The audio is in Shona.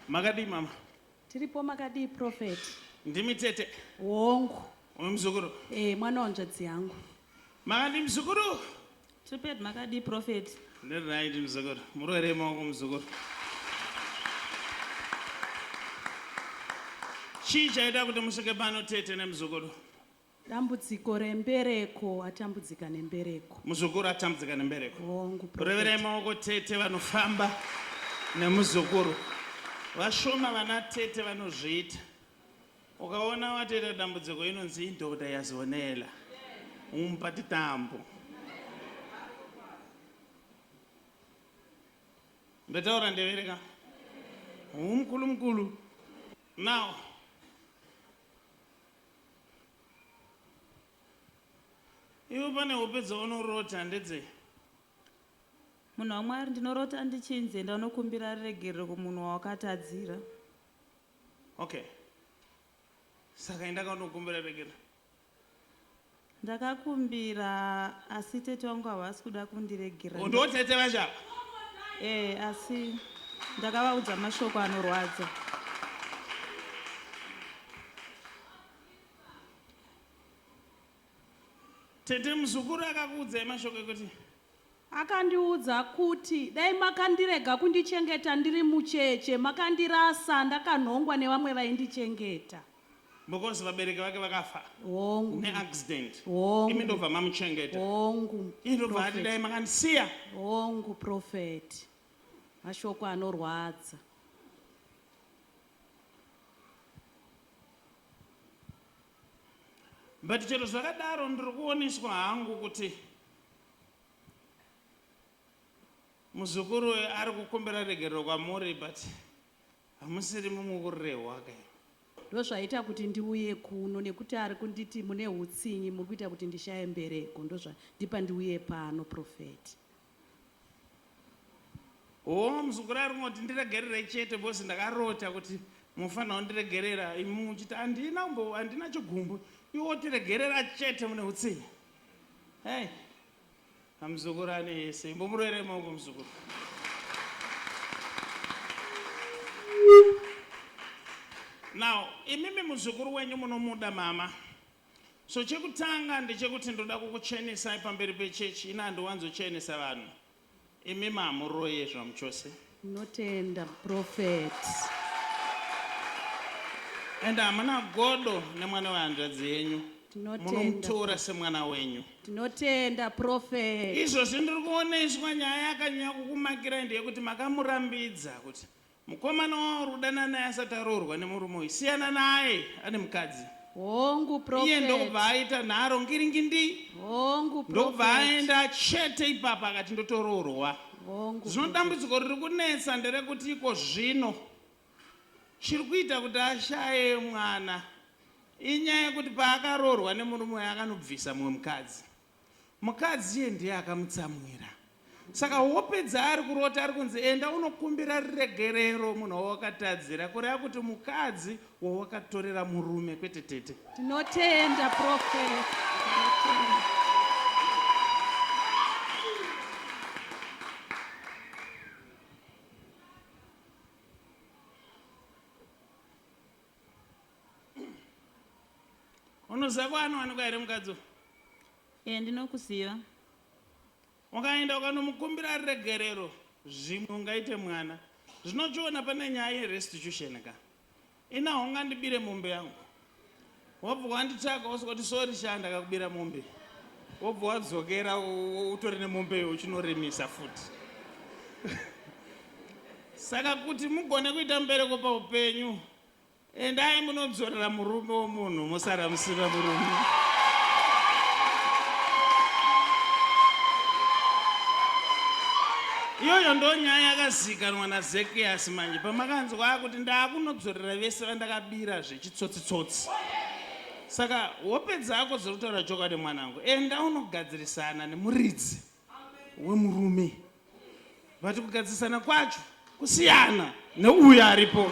Makadii mama? Tiripo makadii prophet? Ndimi tete. Wongu. Uyu mzukuru. Eh, mwana wanzvadzi yangu. Makadii mzukuru? Triped makadii prophet? Ndiri right mzukuru. Murwere maoko mzukuru. Chii chaita kuti musvike pano tete nemzukuru? Dambudziko rembereko atambudzika nembereko. Muzukuru atambudzika nembereko. Hongu. Reverai maoko tete vanofamba nemuzukuru. Vashoma vana tete vanozviita. Ukaona wateta dambudziko inonzi indoda yazonela. Umpa titambo. Ndataura ndevere ka? Umkulu mkulu. Now Iwe pane hope dzaunorota ndedzei? Munhu waMwari, ndinorota ndichinzi enda unokumbira ruregerero kumunhu wawakatadzira. Okay. Saka enda kanokumbira ruregerero. Ndakakumbira asi tete vangu havasi kuda kundiregerera. Ndo tete vacho ava? Ee asi ndakavaudza mashoko anorwadza. Tete muzukuru akakuudzai mashoko ekuti? Akandiudza kuti dai makandirega kundichengeta ndiri mucheche makandirasa ndakanhongwa nevamwe vaindichengeta. Because vabereki vake vakafa hongu neaccident imi hongu ndobva mamuchengeta hongu ii ndobva ati prophet. dai makandisiya hongu profeti mashoko anorwadza but chero zvakadaro ndiri kuoniswa hangu kuti muzukuru uyu ari kukumbira regerero kwamuri but Hamusiri mumwe kurehwa ka imi. Ndozvaita kuti ndiuye kuno nekuti ari kunditi mune hutsinye muri kuita kuti ndishaye mbereko ndozvandipa ndiuye pano prophet. Hoo muzukuru ari kungoti ndiregerere chete because ndakarota kuti munofanira kundiregerera imi muchiti handina kumbo handina chigumbu iwe wotiregerera chete mune hutsinye hey. Amuzukuru ane yese. Imbomuroerei maoko muzukuru. Now, imimi muzukuru wenyu munomuda mama. So chekutanga ndechekuti ndoda kukuchenesai pamberi pechechi. Ini handiwanzochenesa vanhu. Imi ma muroyi ezvamu chose. Tinotenda prophet. And hamuna godo nemwana wehanzvadzi yenyu. Tinotenda. Munomutora semwana wenyu. Tinotenda prophet. Izvozvi ndiri kuoneswa nyaya yakanyanya kukumakirai ndeyekuti makamurambidza kuti Mukomana wauri kudana naye asati aroorwa nemurume uyu siyana naye ane mukadzi. Hongu prophet. Iye ndokubva aita nharo ngiringindi. Hongu prophet. Ndokubva aenda chete ipapa akati ndotoroorwa. Hongu. Zvino dambudziko riri kunetsa nderekuti iko zvino chiri kuita kuti ashaye mwana inyaya yekuti paakaroorwa nemurume uyu akanobvisa mumwe mukadzi. Mukadzi iye ndiye akamutsamwira. Saka hope dzaari kurota ari kunzi enda unokumbira riregerero munhu wawakatadzira kureva kuti mukadzi wawakatorera murume kwete tete. Tinotenda prophet. unoziva kwaanowanikwa here mukadzi uyu e ndinokuziva ukaenda ukanomukumbira ari regerero zvimwe ungaite mwana zvinochiona pane nyaya yerestitution ka ina hongandibire mombe yangu wobva wanditsvaga wosokoti sori shaa ndakakubira mombe wobva wadzokera utori nemombe yo uchinoremisa futi Saka kuti mugone kuita mubereko paupenyu, endai munodzorera murume womunhu mosara musina murume. Iyoyo ndo nyaya yakazikanwa naZekiyasi manje pamakanzwa kuti ndakunodzorera vese vandakabira zvechitsotsitsotsi. Saka hope dzako dziri kutaura chokwadi mwanangu, enda unogadzirisana nemuridzi. wemurume vati kugadzirisana kwacho kusiyana neuyo aripo